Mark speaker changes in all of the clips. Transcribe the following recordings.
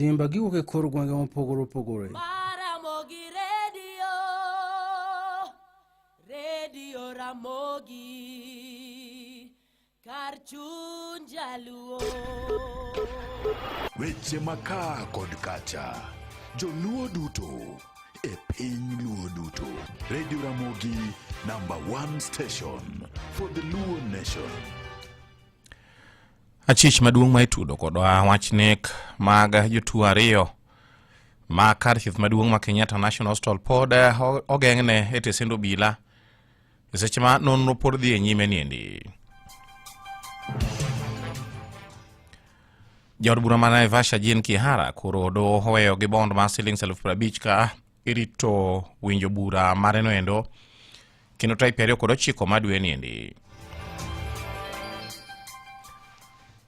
Speaker 1: Simba giwuok e kor gwenge mopogore opogore. Maramogi
Speaker 2: redio, redio Ramogi, kar chuny jaluo.
Speaker 3: Weche maka kod kacha, joluo duto e piny luo duto. Radio Ramogi number one station for the Luo nation.
Speaker 4: achich maduong' ma itudo kodwa wach nek mag jotuo ariyo ma kar thieth maduong' ma kenyatta national hospital pod eh, ogeng'ne e tesend obila e seche ma nonro pod dhi e nyime niendi jaod bura ma naivasha jin kihara koro odo oweyo gi bond mar silings elfu prabich ka irito winjo bura mareno endo kendo type ariyo kod ochiko ma dwe niendi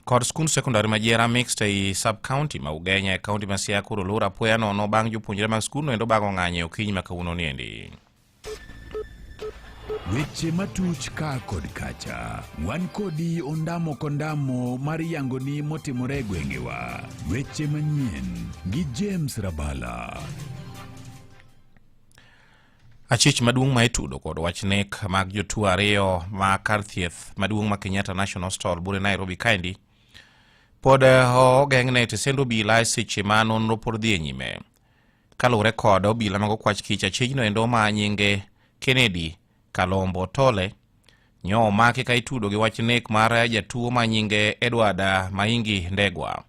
Speaker 4: kod skund sekondari ma Jera Mixed ei sub county ma Ugenya e kaunti ma Siaya koro lura apoya nono bang' jopuonjre mag skundno endo bago ng'anyo e okinyi ma kawuono niendi.
Speaker 3: Weche matuch ka kod kacha, wan kodi ondamo kondamo mar yangoni motimore e gwengewa. Weche manyien gi James Rabala.
Speaker 4: Achich maduong' ma itudo kod wach nek mag jotuo ariyo ma kar thieth maduong' ma Kenyatta National Hospital bure Nairobi kaendi pod eh, ogeng'ne tesend obila e seche ma nonro pod dhi e nyime. Kaluwore kod obila mag okwach kich achijno endo ma nyinge Kennedy Kalombo Tole nyo omaki ka itudo gi wach nek mar jatuo ma nyinge Edward Maingi Ndegwa.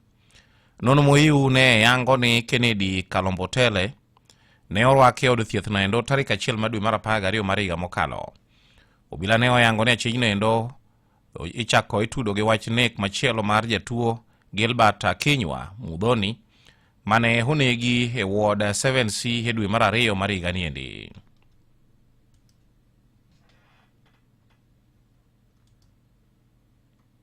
Speaker 4: Nono Moiu ne yango ni Kennedy Kalombo Tele ne orwake e od thieth no endo tarik achiel ma dwe mar apar gariyo mar higa mokalo. Obila ne oyango ni achijno endo ichako itudo gi wach nek machielo mar jatuo Gilbert Akinywa Mudhoni mane onegi e ward 7C e dwe mar ariyo mar higa ni endi.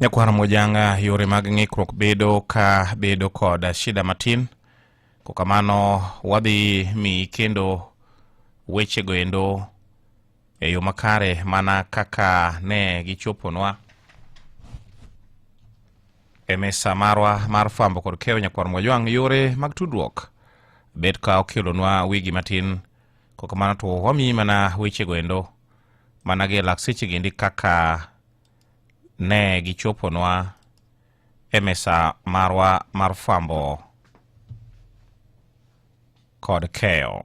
Speaker 4: nyakwar mojanga yore mag ng'ikruok bedo ka bedo kod shida matin kokamano wadhi mi kendo wechego endo e yo makare mana kaka ne gichoponwa e mesa marwa mar fwambo kod keyo nyakwar mwajwang' yore mag tudruok bet ka okelonwa wigi matin kok mana to wamiyi mana wechego endo mana gi e lak sechegi endi kaka ne gichoponwa e mesa marwa mar fwambo kod keyo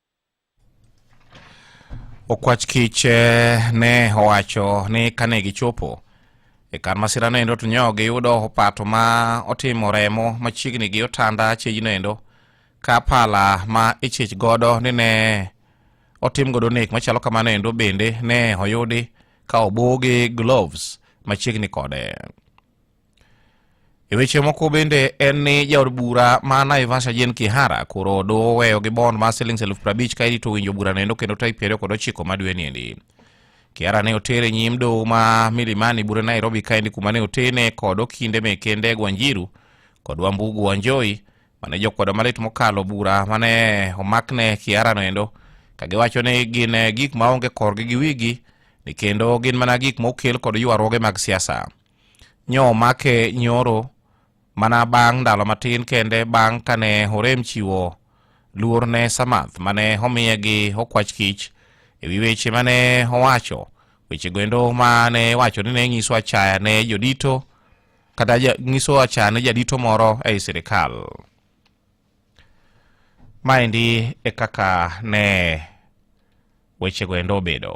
Speaker 4: Okwach kich eh, ne owacho ni kane gichopo e kar masira no endo to nyo giyudo opato ma otimo remo machiegni gi otanda chejno endo ka pala ma ichich godo ni ne otim godo nek machalo kamano endo bende ne oyudi ka obogi gloves machiegni kode. E weche moko bende en ni jaod bura ma Naivasha Jane Kihara koro doweyo gi bond mar siling elfu prabich ka irito winjo bura nendo kendo tarik piero kod ochiko ma dwe niendi. Kihara ne oter e nyim doho ma Milimani bura Nairobi kaendi kuma ne otene kod okinde meke Ndegwa Wanjiru kod Wambugu Wanjohi mane jokwedo malit mokalo bura mane omakne Kihara no endo ka giwacho ni gin eh, gik maonge korgi gi wigi ni kendo gin mana gik mokel kod ywaruoge mag siasa. Nyo make nyoro mana bang' ndalo matin kende bang' kane Horem chiwo luor ne Samath mane omiye gi okwach kich e wi weche mane owacho weche goendo mane wacho ni ne nyiso achaya ne jodito kata nyiso achaya ne jadito moro ei sirikal maendi e kaka ne weche goendo obedo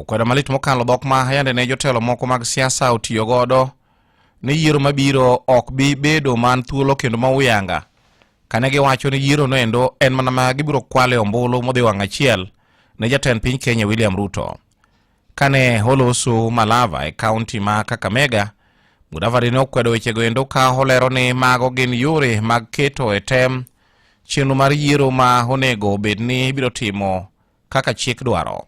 Speaker 4: Okwedo malit mokalo dhok ma yande ne jotelo moko mag siasa otiyo godo ni yiero mabiro ok bi bedo man thuolo kendo ma uyanga kane giwacho ni yiero noendo en mana ma gibiro kwale ombulu modhi wang' achiel ne jatend piny Kenya William Ruto. Kane holosu Malava e kaunti ma Kakamega, Mudavadi ne okwedo wechego endo ka olero ni mago gin yore mag keto e tem chenro mar yiero ma onego bed ni ibiro timo kaka chik dwaro.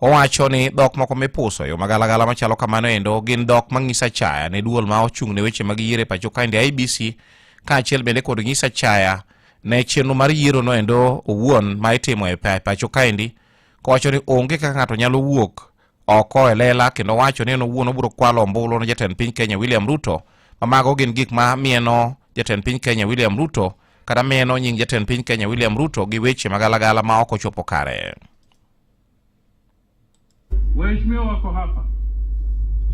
Speaker 4: Owacho ni dhok moko mipuso e yo magalagala machalo kamano endo gin dhok mang'iso achaya ne duol ma ochung' ne weche mag yiero e pacho kaendi IBC kaachiel bende kod ng'iso achaya ne chenro mar yiero no endo owuon ma itimo e pacho kaendi kowacho ni onge kaka ng'ato nyalo wuok oko e lela kendo wacho ni en owuon obiro kwalo ombulu ne jatend piny Kenya William Ruto ma mago gin gik ma mieno jatend piny Kenya William Ruto kata mieno nying jatend piny Kenya William Ruto gi weche magalagala ma ok ochopo kare.
Speaker 5: Waheshimiwa wako hapa,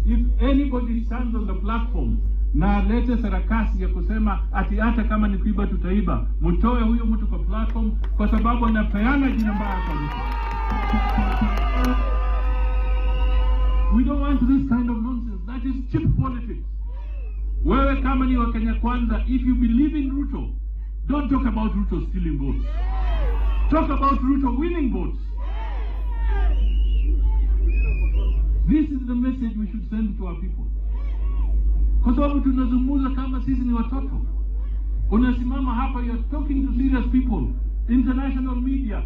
Speaker 5: if anybody stands on the platform na alete sarakasi ya kusema ati hata kama ni kuiba tutaiba, mtoe huyo mtu kwa platform, kwa sababu anapeana jina mbaya kwa We don't want this kind of nonsense. That is cheap politics. Wewe kama ni Wakenya Kwanza, if you believe in Ruto, don't talk about Ruto stealing votes. Talk about Ruto winning votes. This is the message we should send to our people, kwa sababu tunazungumza kama sisi ni watoto. Unasimama hapa, you're talking to serious people, international media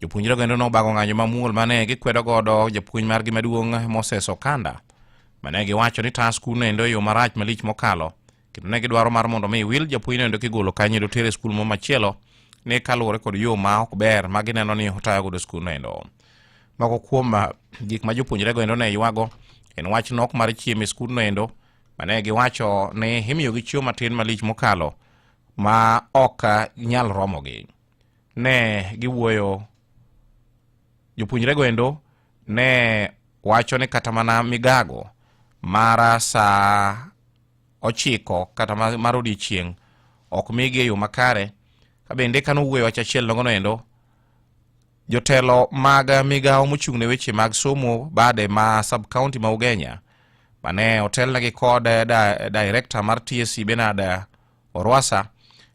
Speaker 4: Jopuonjre kendo nobago ng'anyo mamuol ma ne gikwedo godo japuonj margi maduong' Moses Okanda ma ne giwacho ni taa skul nendo e yo marach malich mokalo kendo ne gidwaro mar mondo mi wil japuonj nendo kigolo kanyo do tere skul mo machielo ni kaluwore kod yo ma ok ber ma gineno ni otayo godo skul nendo. Moko kuom ah, gik ma jopuonjre goendo ne ywago en wach nok mar chiemo e skul noendo ma ne giwacho ni imiyogi chiemo matin malich mokalo ma ok ah, nyal romogi. ne giwuoyo jopuonjrego endo ne wacho ni kata mana migago mara saa ochiko kata mar odiechieng' ok migi e yo makare ka bende ka nowuoyo wach achiel nogono endo jotelo mag migawo mochung' ne weche mag somo bade ma sub county ma ugenya mane otelnegi kod director mar tsc benard Orwasa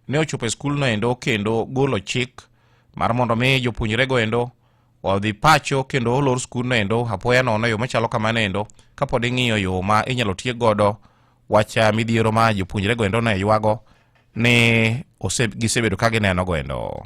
Speaker 4: ne ochopo e skulno endo kendo golo chik mar mondo mi jopuonjrego endo odhi pacho kendo olor skulno endo apoya nono yo machalo kamano endo kapod ing'iyo yo ma inyalo tiek godo wach midhiero ma jopuonjrego endo ne ywago ni gisebedo ka ginenogo endo.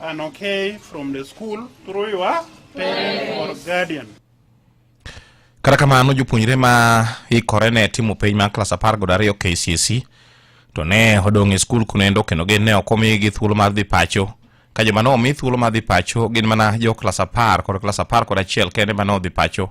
Speaker 6: An okay from the school through your parent or guardian.
Speaker 4: Kata kamano jopuonjre ma ikore ne timo penj mar klas apar kod ariyo KCSE to ne odong' e skul kunendo kendo gin ne ok omigi thuolo mar dhi pacho ka joma ne omi thuolo mar dhi pacho gin mana jo klas apar kod klas apar kod achiel kende ma ne odhi pacho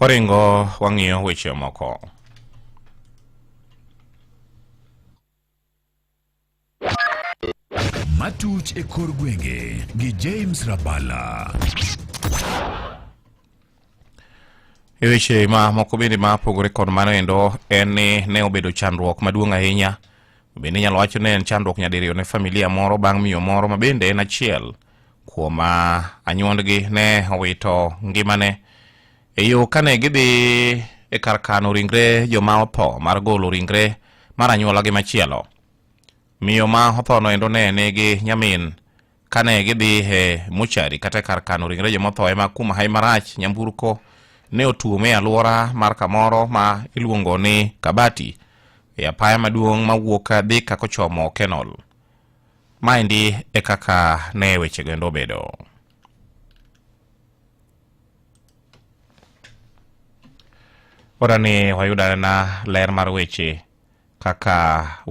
Speaker 4: Waringo wang'iyo weche moko.
Speaker 3: Matuch e kor gwenge gi James Rabala.
Speaker 4: E weche ma moko bende ma pogore kod mano endo en ni ne obedo chandruok maduong' ahinya bende inyalo wacho ni en chandruok nyadiriyo ne familia moro bang' miyo moro ma bende en achiel kuom anyuondgi ne owito ngimane e yo kane gidhi e kar kano ringre joma otho mar golo ringre mar anyuolagi machielo miyo ma othono endo ne nigi nyamin kane gidhi e muchari kata e kar kano ringre joma otho ema kum hai marach nyamburko ne otuome e alwora mar kamoro ma iluongo ni kabati e apaya maduong' mawuok Thika kochomo Kenol. Maendi e kaka ne wechego endo obedo. Ora ni wayudo anena ler mar weche kaka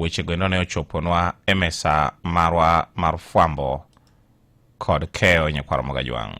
Speaker 4: wechego endo ne ochoponwa e mesa marwa mar fwambo kod keyo nyakwaro Mogajwang'.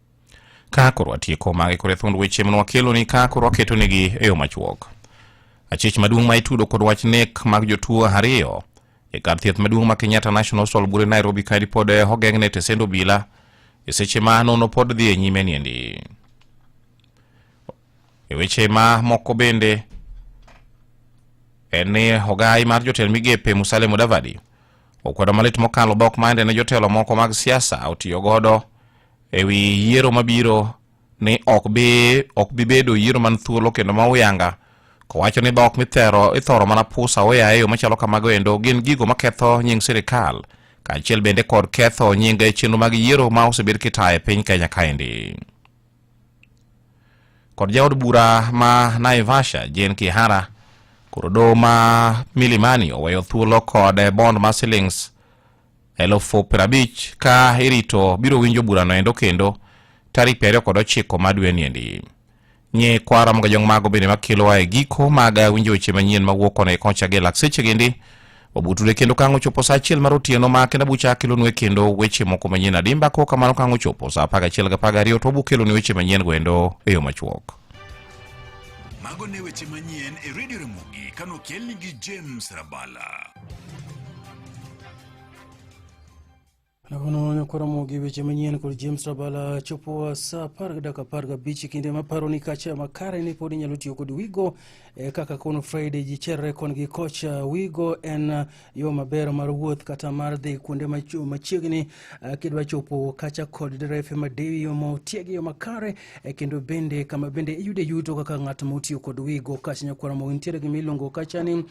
Speaker 7: Ka
Speaker 4: koro atieko magi kore thund weche mane wakeloni ka koro aketonegi e yo machuok. Achich maduong' ma itudo kod wach nek mag jotuo ariyo e kar thieth maduong' ma Kenyatta National Hospital bure Nairobi kae pod eh, ogeng'ne tesend obila e seche ma nono pod dhi e nyime niendi. E weche ma moko bende en ni ogai mar jotend migepe Musalia Mudavadi okwedo malit mokalo dhok ma ende ne jotelo moko mag siasa otiyo godo e wi yiero mabiro ni ok bi ok bi bedo yiero man thuolo kendo ma uyanga kowacho ni dhok mithero ithoro mana pusa oya e yo machalo kamago endo gin gigo maketho nying sirikal kaachiel bende kod ketho nying chenro mag yiero ma osebed kitayo e piny kenya kaendi kod jaod bura ma naivasha jen kihara koro doho ma milimani oweyo thuolo kod bond ma silings elufu piero abich ka irito biro winjo burano endo kendo tarik piero ariyo kod ochiko ma dweni endi nyi kwara moga jong mago bende makelowa e giko mag winjo weche manyien mawuok kona e koncha gi lakseche gindi obutude kendo kang' ochopo sa achiel mar otieno ma kenda bucha akelonue kendo weche moko manyien adimba ko kamano kang' ochopo sa apar gachiel gapar gariyo to obukeloni weche manyien goendo e yo machuok
Speaker 3: Mago ne weche manyien e Radio Ramogi kano kelni gi James Rabala.
Speaker 1: Nakono nokoromo gi weche manyien kod James Rabala chopo sa apar gi dakika apar gabich kinde ma paro ni kacha makare ni pod inyalo tiyo kod Wigo eh, kaka kono Friday ji cherre kon gi kocha Wigo en yo maber mar wuoth kata mar dhi kuonde machiegni eh, kidwa chopo kacha kod derefe madewi yo ma otiegi yo makare eh, kendo bende kama bende iyude yuto kaka ng'at ma otiyo kod wigo kash nyakwara mogi nitiere gima iluongo kacha ni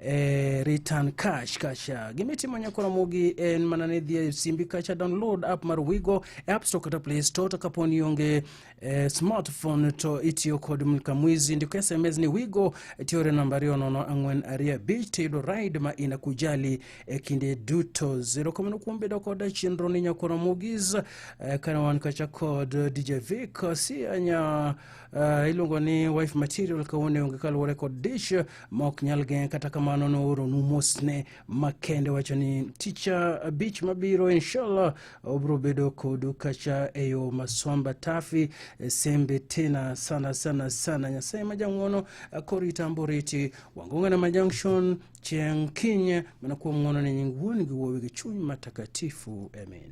Speaker 1: eh, return cash kacha gima itimo nyakwara mogi en mana ni dhi e simbi kacha download app mar wigo e app store kata play store to kapo ni onge Eh, smartphone to itiyo kod mlka mwizi ndiko sms ni wigo tiyore namba ariyo nono ang'wen ariyo abich tiyudo ride ma ina kujali e kinde duto zero kamano kuom bedo kod chenro ni nyakoro mugis eh, kana wan kacha kod dj vic si anya eh, iluongo ni wife material kawone onge kaluwore kod dish ma ok nyal geng' kata kamano nooro nu mosne Makende wacho ni ticha abich mabiro inshallah obro bedo kodu kacha e yo masomba tafi e sembe tena sana sana sana nyasaye majang'wono korita amboriti wangong'ana ma junction chieng' kinye mana kuom ng'wono ne nying wuon gi wuowi gi chuny matakatifu amen